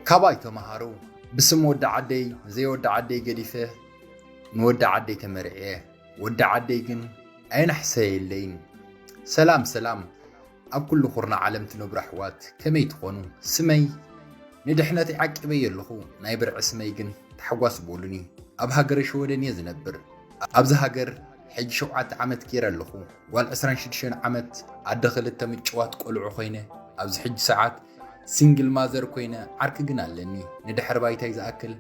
ካባይ ተምሃሩ ብስም ወዲ ዓደይ ንዘይ ወዲ ዓደይ ገዲፈ ንወዲ ዓደይ ተመርዕየ ወዲ ዓደይ ግን ኣይናሕሰየለይን ሰላም ሰላም ኣብ ኩሉ ኩርናዕ ዓለም ትነብሩ ኣሕዋት ከመይ ትኾኑ ስመይ ንድሕነተይ ዓቂበዮ ኣለኹ ናይ ብርዒ ስመይ ግን ታሕጓስ በሉኒ ኣብ ሃገረ ሸወደን እየ ዝነብር ኣብዚ ሃገር ሕጂ ሸውዓተ ዓመት ገይረ ኣለኹ ጓል ዕስራን ሽዱሽተን ዓመት ኣደ ክልተ ምጭዋት ቆልዑ ኮይነ ኣብዚ ሕጂ ሰዓት ሲንግል ማዘር ኮይነ ዓርኪ ግን ኣለኒ ንድሕሪ ባይታይ ዝኣክል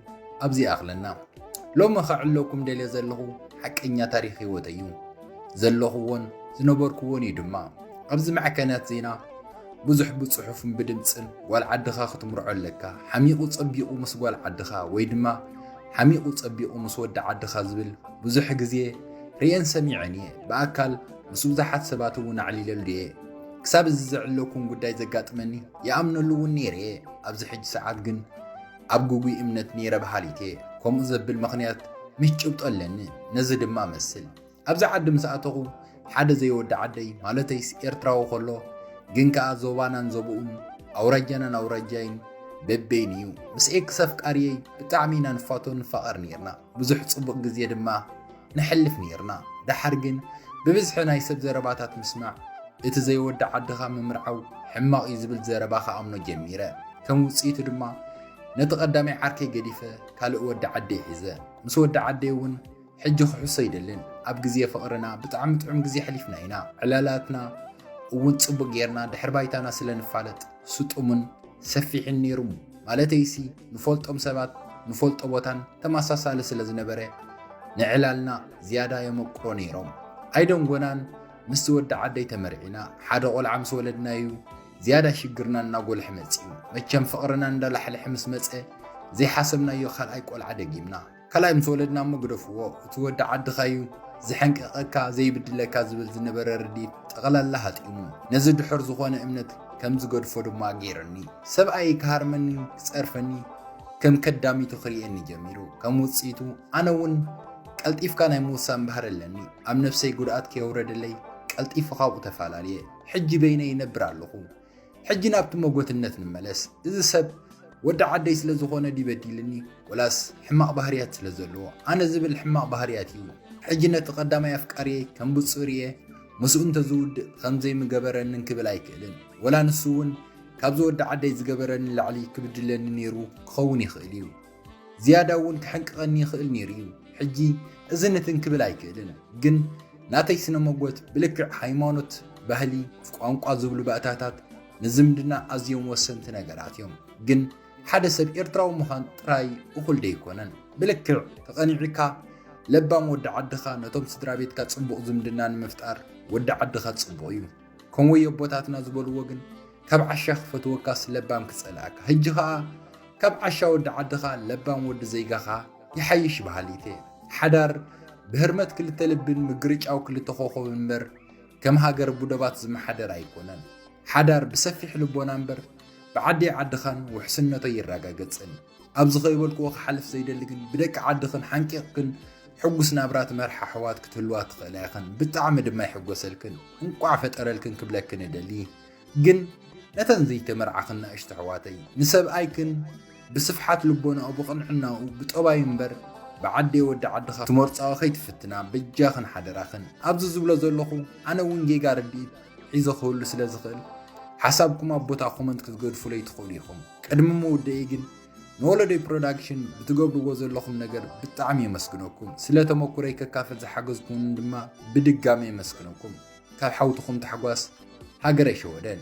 ኣብዚ ይኣኽለና ሎሚ ከዕለኩም ደልየ ዘለኹ ሓቀኛ ታሪክ ሂወተይ እዩ ዘለኹዎን ዝነበርኩዎን እዩ ድማ ኣብዚ መዕከንያት ዜና ብዙሕ ብጽሑፍን ብድምፅን ጓል ዓድኻ ክትምርዖ ኣለካ ሓሚቑ ጸቢቑ ምስ ጓል ዓድኻ ወይ ድማ ሓሚቑ ጸቢቑ ምስ ወዲ ዓድኻ ዝብል ብዙሕ ግዜ ርኤን ሰሚዐን እየ ብኣካል ምስ ብዙሓት ሰባት እውን ኣዕሊለሉ እየ ክሳብ እዚ ዘዕለኩም ጉዳይ ዘጋጥመኒ ይኣምነሉ እውን ነይረ እየ ኣብዚ ሕጂ ሰዓት ግን ኣብ ጉጉይ እምነት ነይረ በሃሊት እየ ከምኡ ዘብል ምኽንያት ምስ ጭብጦ ኣለኒ ነዚ ድማ መስል ኣብዚ ዓዲ ምስ ኣተኹ ሓደ ዘይወዲ ዓደይ ማለተይስ ኤርትራዊ ከሎ ግን ከኣ ዞባናን ዞብኡን ኣውራጃናን ኣውራጃይን በበይን እዩ ምስ ኤክስ ኣፍቃርየይ ብጣዕሚ ኢና ንፋቶ ንፋቐር ነርና ብዙሕ ጽቡቕ ግዜ ድማ ነሕልፍ ነይርና። ደሓር ግን ብብዝሒ ናይ ሰብ ዘረባታት ምስማዕ፣ እቲ ዘይወዲ ዓድኻ ምምርዓው ሕማቕ እዩ ዝብል ዘረባ ክኣምኖ ጀሚረ። ከም ውጽኢቱ ድማ ነቲ ቀዳማይ ዓርከይ ገዲፈ ካልእ ወዲ ዓደይ ሒዘ። ምስ ወዲ ዓደይ እውን ሕጂ ክሕሶ ኣይደልን። ኣብ ግዜ ፍቕርና ብጣዕሚ ጥዑም ግዜ ኣሕሊፍና ኢና። ዕላላትና እውን ጽቡቕ ጌርና ድሕሪ ባይታና ስለ ንፋለጥ ስጡምን ሰፊሕን ነይሩ። ማለተይሲ ንፈልጦም ሰባት ንፈልጦ ቦታን ተመሳሳሊ ስለ ዝነበረ ንዕላልና ዝያዳ የመቅሮ ነይሮም። ኣይደንጎናን ምስቲ ወዲ ዓደይ ተመርዒና ሓደ ቆልዓ ምስ ወለድናዩ ዝያዳ ሽግርና እናጎልሐ መጺኡ። መቸም ፍቕርና እንዳላሕለሐ ምስ መጸ ዘይሓሰብናዮ ካልኣይ ቆልዓ ደጊምና። ካልኣይ ምስ ወለድና እሞ ግደፍዎ እቲ ወዲ ዓድኻ እዩ ዝሕንቅቀካ ዘይብድለካ ዝብል ዝነበረ ርድኢት ጠቕላላ ሃጢሙ ነዚ ድሑር ዝኾነ እምነት ከም ዝገድፎ ድማ ገይሩኒ። ሰብኣየይ ክሃርመኒ ክጸርፈኒ ከም ከዳሚቱ ክርእየኒ ጀሚሩ። ከም ውጽኢቱ ኣነ እውን ቀልጢፍካ ናይ ምውሳን ባህሪ ኣለኒ። ኣብ ነብሰይ ጉድኣት ከየውረደለይ ቀልጢፈ ካብኡ ተፋላልየ። ሕጂ በይነይ ይነብር ኣለኹ። ሕጂ ናብቲ መጎትነት ንመለስ እዚ ሰብ ወዲ ዓደይ ስለ ዝኾነ ድዩ በዲልኒ ወላስ ሕማቕ ባህርያት ስለ ዘለዎ ኣነ ዝብል ሕማቕ ባህርያት እዩ ሕጂ ነቲ ቀዳማይ ኣፍቃርየይ ከም ብፁር እየ ምስኡ እንተዝውድእ ከምዘይምገበረንን ክብል ኣይክእልን ወላ ንሱ እውን ካብዚ ወዲ ዓደይ ዝገበረኒ ላዕሊ ክብድለኒ ነይሩ ክኸውን ይኽእል እዩ ዝያዳ እውን ክሕንቅቐኒ ይኽእል ነይሩ እዩ። ሕጂ እዚ ንትን ክብል ኣይክእልን፣ ግን ናተይ ስነ መጎት ብልክዕ ሃይማኖት፣ ባህሊ፣ ቋንቋ ዝብሉ ባእታታት ንዝምድና ኣዝዮም ወሰንቲ ነገራት እዮም። ግን ሓደ ሰብ ኤርትራዊ ምዃን ጥራይ እኹል ደይኮነን። ብልክዕ ተቐኒዕካ ለባም ወዲ ዓድኻ ነቶም ስድራ ቤትካ ጽቡቕ ዝምድና ንምፍጣር ወዲ ዓድኻ ጽቡቕ እዩ። ከምኡ የቦታትና ዝበልዎ ግን ካብ ዓሻ ክፈትወካስ ለባም ክጸልኣካ ህጂ ከኣ ካብ ዓሻ ወዲ ዓድኻ ለባም ወዲ ዘይጋኻ ይሓይሽ በሃሊት እየ ሓዳር ብህርመት ክልተ ልብን ምግርጫው ክልተ ኮኾብ እምበር ከም ሃገር ቡደባት ዝመሓደር ኣይኮነን ሓዳር ብሰፊሕ ልቦና እምበር ብዓዲ ዓድኻን ውሕስነቶ ይረጋገጽን ኣብዚ ከይበልክዎ ክሓልፍ ዘይደሊ ግን ብደቂ ዓድኽን ሓንቂቕክን ሕጉስ ናብራ ትመርሓ ኣሕዋት ክትህልዋ ትኽእላ ኢኽን ብጣዕሚ ድማ ይሕጎሰልክን እንቋዕ ፈጠረልክን ክብለክን እደሊ ግን ነተን ዘይተመርዓኽን ናእሽቱ ኣሕዋተይ ንሰብኣይክን ብስፍሓት ልቦናኡ ብቕንዕናኡ ብጠባዩ እምበር ብዓዴ ወዲ ዓድኻ ትመርፃዊ ከይትፍትና በጃኽን ሓደራኽን ኣብዚ ዝብሎ ዘለኹ ኣነ እውን ጌጋ ርድኢት ሒዘ ክህሉ ስለ ዝኽእል ሓሳብኩም ኣብ ቦታ ኮመንት ክትገድፉለይ ትኽእሉ ኢኹም ቅድሚ ምውደኢ ግን ንወለዶይ ፕሮዳክሽን ብትገብርዎ ዘለኹም ነገር ብጣዕሚ የመስግነኩም ስለ ተመኩረይ ከካፍል ዝሓገዝኩምን ድማ ብድጋሚ የመስግነኩም ካብ ሓውትኹም ታሕጓስ ሃገረ ሸወደን